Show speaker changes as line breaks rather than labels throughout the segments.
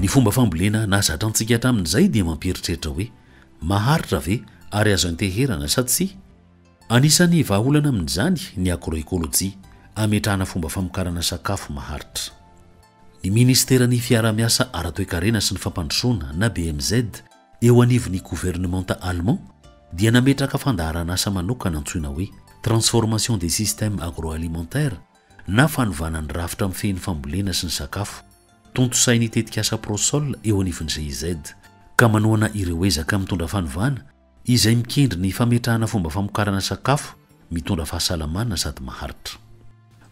ny fomba fambolena nahazatra antsika hatramin'izay dia mampieritreritra hoe maharitra ve ary azo anteherana sa tsy anisan'ny vahaolana amin'izany ny agroekolojia ametrahana fomba famokarana sakafo maharitra Ny Ministeran'ny Fiaraha-miasa Ara-toekarena sy ny Fampandrosoana na BMZ eo anivon'ny Governemanta Allemand dia nametraka fandaharan'asa manokana antsoina hoe Transformation des systèmes agroalimentaires na fanovana ny rafitra mifehy ny fambolena sy ny sakafo, tontosain'ny tetikasa Prosol eo anivon'ny GIZ, ka manohana ireo ezaka mitondra fanovana Izay mikendry ny fametrahana fomba famokarana sakafo mitondra fahasalamana sady maharitra.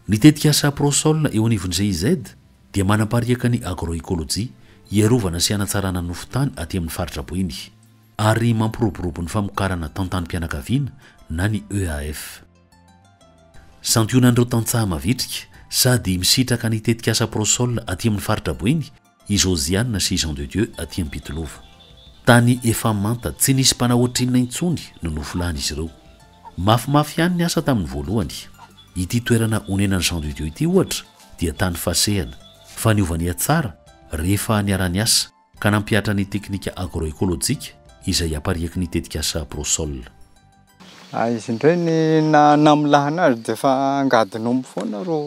Ny tetikasa Prosol eo anivon'ny GIZ dia manapariaka ny agroecologie hiarovana sy hanatsarana ny nofon-tany aty amin'ny faritra boeny ary mampiroborobo ny famokarana tantanim-pianakaviana na ny EAF. Santionan'ireo tantsaha mavitrika sady misitraka ny tetikasa Prosol aty amin'ny faritra boeny i Josiane sy i Jean de Dieu aty Ampitolova. Tany efa manta, tsy nisy mpanao ohatrinona intsony no nofolan'izy ireo. Mafimafy ihany ny asa tamin'ny voalohany. Ity toerana onenan'i Jean de Dieu ity ohatra dia tany fasehana, fa niova nihatsara rehefa niara-niasa ka nampihatra ny teknika agro-ekolojika izay apariaky ny tetikasa Prosol. Ary
izy indray ny namolahana azy dia efa angadin'omby foana ro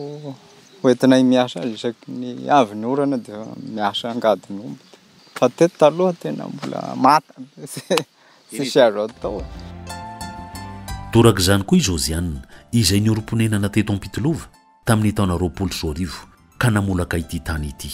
hoentinay miasa azy isaky ny avy ny orana dia miasa angadin'omby fa teto taloha tena mbola mata be izay tsisy azo atao e.
Torak'izany koa i Josiane izay niorim-ponenana teto Ampitilova tamin'ny taona roapolo sy roa arivo ka namolaka ity tany ity.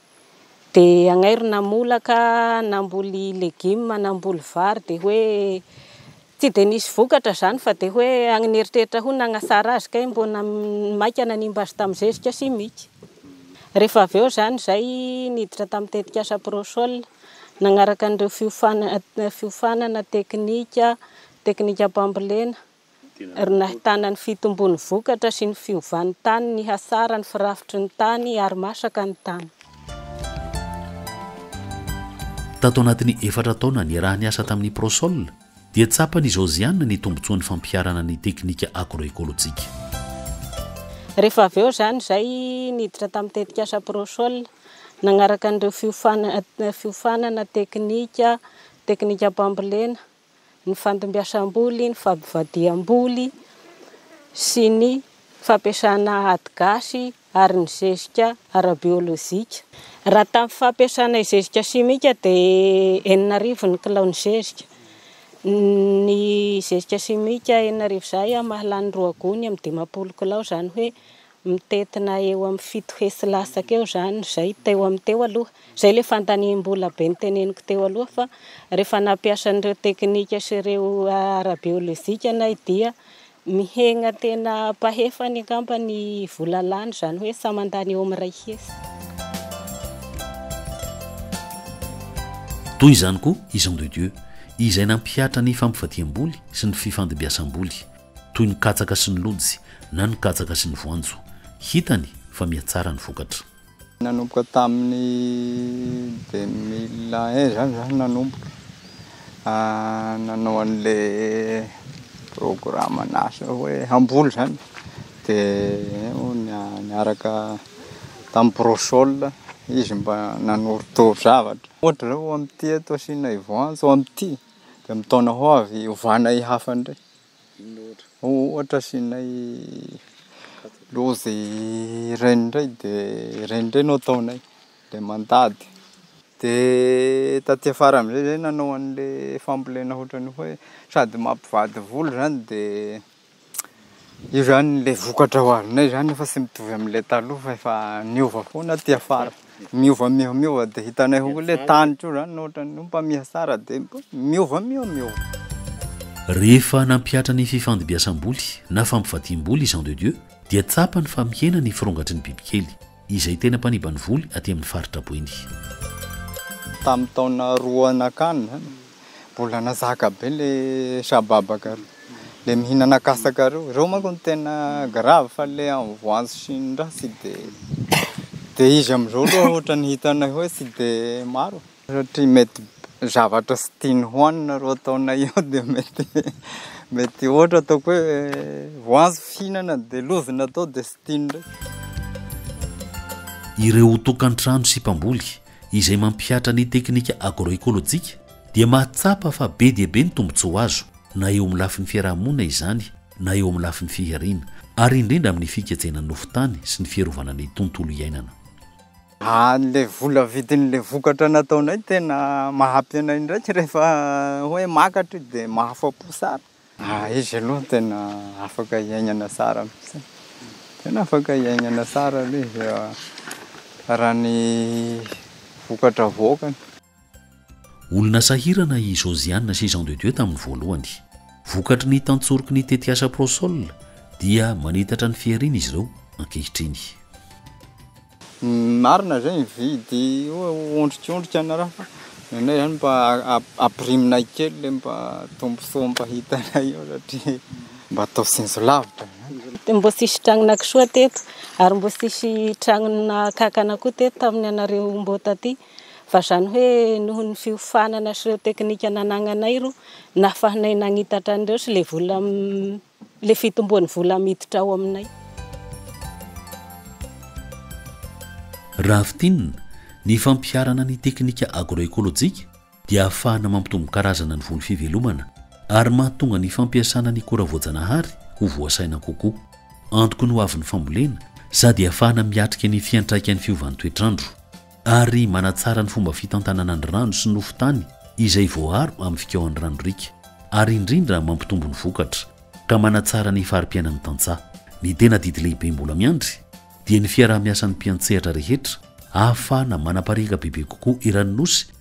Dia agnairy namolaka namboly legume namboly vary dia hoe tsy dia nisy vokatra izany fa dia hoe agny nieritreritra hono nagnatsara azy kay mbô maika nanimba azy tamin'ny zezika simika. Rehefa avy eo izany izay niditra tamin'ny tetikasa Prosol nagnaraka an'ireo fiofana- fiofanana teknika, teknikam-pambolena. ary nahitana ny fitombon'ny vokatra sy ny fiovan'ny tany ny hasara ny firafitry ny tany ary masaka ny tany.
Tato anatin'ny efatra taona niaraha-niasa tamin'ny Prosol dia tsapan'i Josiane ny tombontsoan'ny fampiharana ny teknika agro-ekolojika.
Rehefa avy eo izany izay niditra tamin'ny tetikasa Prosol nanaraka an'ireo fiofanana teknika, teknikam-pambolena, ny fandombiasam-boly, ny fampivadiham-boly sy ny fampiasana ady gasy ary ny zezika ara-biolojika. Raha tamin'ny fampiasana zezika simika dia enina arivo ny kilao ny zezika. Ny zezika simika enina arivo izay mahalany roa gony amin'ny dimampolo kilao izany hoe Mitentina eo amin'ny fito hesy latsaka eo izany izay teo amin'ny teo aloha. Izay ilay fandaniam-bola be noteneniko teo aloha fa rehefa nampiasa an'ireo teknika sy ireo ara-biolojika nay dia mihena tena ampahefany angamba ny vola lany izany hoe samy handany eo amin'ny iray hesy.
Toy izany koa i Jean de Dieu izay nampihatra ny fampivadiam-boly sy ny fifandimbiasam-boly. toy ny katsaka sy ny lojy na ny katsaka sy ny voanjo. Hitany fa mihatsara ny vokatra. Nanomboka
tamin'ny deux mille un izany izaho no nanomboka nanao an'ilay programan'asa hoe hamboly izany dia niaraka tamin'ny Prosol izy mba nanorotoro zavatra. Ohatra izao amin'ity eto asianay voanjo amin'ity dia amin'ny taona ho avy ovana hihafa indray. Ohatra asianay lôzy reny ndray de reny ndray no ataonay de mandady de taty afara amizay zay nanao anle fambolena ohatrany hoe sady mampivady vola zany de io zany le vokatra ho avinay zany fa tsy mitovy amle taloha fa efa niova foana aty afara. Miova miova miova dia hitanay ho ilay tany koa izany ohatra ny mpamiha tsara dia miova miova miova.
Rehefa nampihatra ny fifandimbiasam-boly na fampivadiam-boly i Jean de Dieu dia tsapany fa mihena ny firongatry ny bibikely, izay tena mpaniban'ny voly aty amin'ny faritra Boeny. Tamin'ny
taona
roa
nankany
izany
Mbola nazaka be le shababaka reo, le mihinana katsaka reo, reo manko no tena grave fa le an voanjo sy ny raha tsy de, de izy amzao aloha ohatrany hitanay hoe tsy de maro e, satria mety zavatra tsy tiany hoanina reo ataonay eo de mety mety ohatra ataoko hoe voanjo fihinana de lojy natao de tsy tiany reo.
Ireo tokantrano sy mpamboly izay mampihatra ny teknika agroekolojika dia mahatsapa fa be dia be ny tombontsoa azo na eo amin'ny lafiny fiarahamonina izany na eo amin'ny lafiny fihariana ary indrindra amin'ny fikajena ny nofon-tany sy ny fiarovana ny tontolo iainana.
Ilay vola vidin'ilay vokatra nataonay tena maha-ampy anay indraika rehefa hoe makatra io dia mahafa-po tsara. Ah izy aloha tena afaka hiainana tsara mihitsy e! Tena afaka hiainana tsara aloha izy a! Raha ny vokatra avoakany.
Olona sahirana i Josiane sy Jean de Dieu tamin'ny voalohany. Vokatry ny tantsoroky ny tetikasa Prosol dia manitatra ny fihariana izy ireo ankehitriny.
Marina zay mividy ondrikiondrika ianareo fa ny anay zany mba apirimnay kely le mba tombontsoa mba hitanay eo satria mba atao sinjo lavitra zany. Mbo tsisy
tragnona kisoa teto ary mbo tsisy tragnona kankana koa teto tamin'ny anareo mbo taty fa zany hoe noho ny fiofanana sy ireo teknika nanagnanay ro nahafahanay nagnitatra an'ireo sy le vola Ilay fitomboan'ny vola miditra ao aminay.
Raha fintinina, ny fampiharana ny teknika agroekolojika dia ahafahana mampitombo karazana ny voly fivelomana ary mahatonga ny fampiasana ny akora voajanahary ho voasaina kokoa. Antoky ny hoavin'ny fambolena sady ahafahana miatrika ny fiantraikan'ny fiovan'ny toetr'andro. ary manatsara ny fomba fitantanana ny rano sy nofo tany izay voaaro amin'ny fikaohan'ny rano riaka, ary indrindra mampitombo ny vokatra, ka manatsara ny fari-piainan'ny tantsaha. Ny tena adidy lehibe mbola miandry dia ny fiaraha-miasan'ny mpiantsehatra rehetra ahafahana manapariaka bebe kokoa eran'ny Nosy